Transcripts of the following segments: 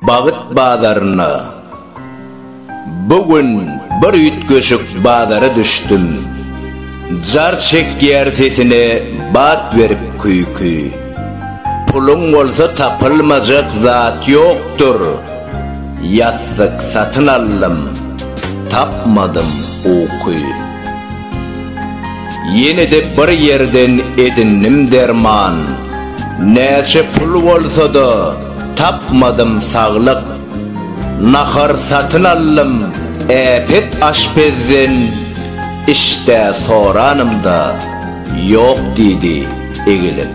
Bagyt bazarynda Bu gün bir üýtgeşik bazara düşdüm. Jar çekýär sesine bat berip küýki. Puluň bolsa tapylmajak zat ýokdur. Ýassyk satyn aldym, tapmadym uky. Ýene-de bir ýerden edindim derman, Näçe pul bolsa-da, tapmadym saglyk. Nahar satyn aldym äpet aşpezden, Iş-dä soranymda, ýok diýdi egilip.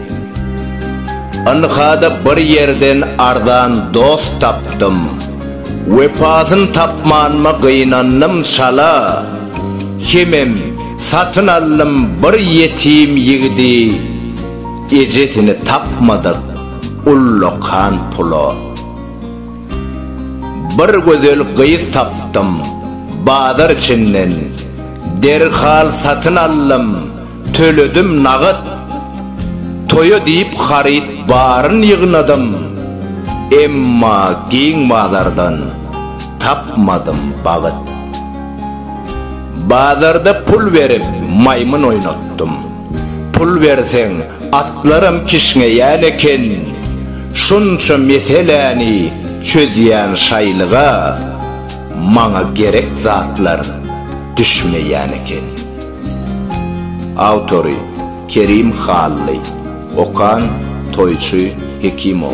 Ynha-da bir ýerden arzan dost tapdym, Wepasyn tapmanyma gynandym çala. Hemem satyn aldym bir ýetim ýigidi Ejesini tapmadyk ullakan pula Bir gözel gyz tapdym bazar içinden Derhal satyn aldym Töledim nagat. Toýa diýip haryt baryn ýygnadym. Emma giň bazardan tapmadym bagyt. Bazarda pul berip maýmyn oýnatdym. Pul berseň atlaram kişňeýän eken. Şunça meseläni çözýän şaýlyga maňa gerek zatlar düşmeýän eken. Awtory, Kerim Hally. Okan, Toýçy Hekimow.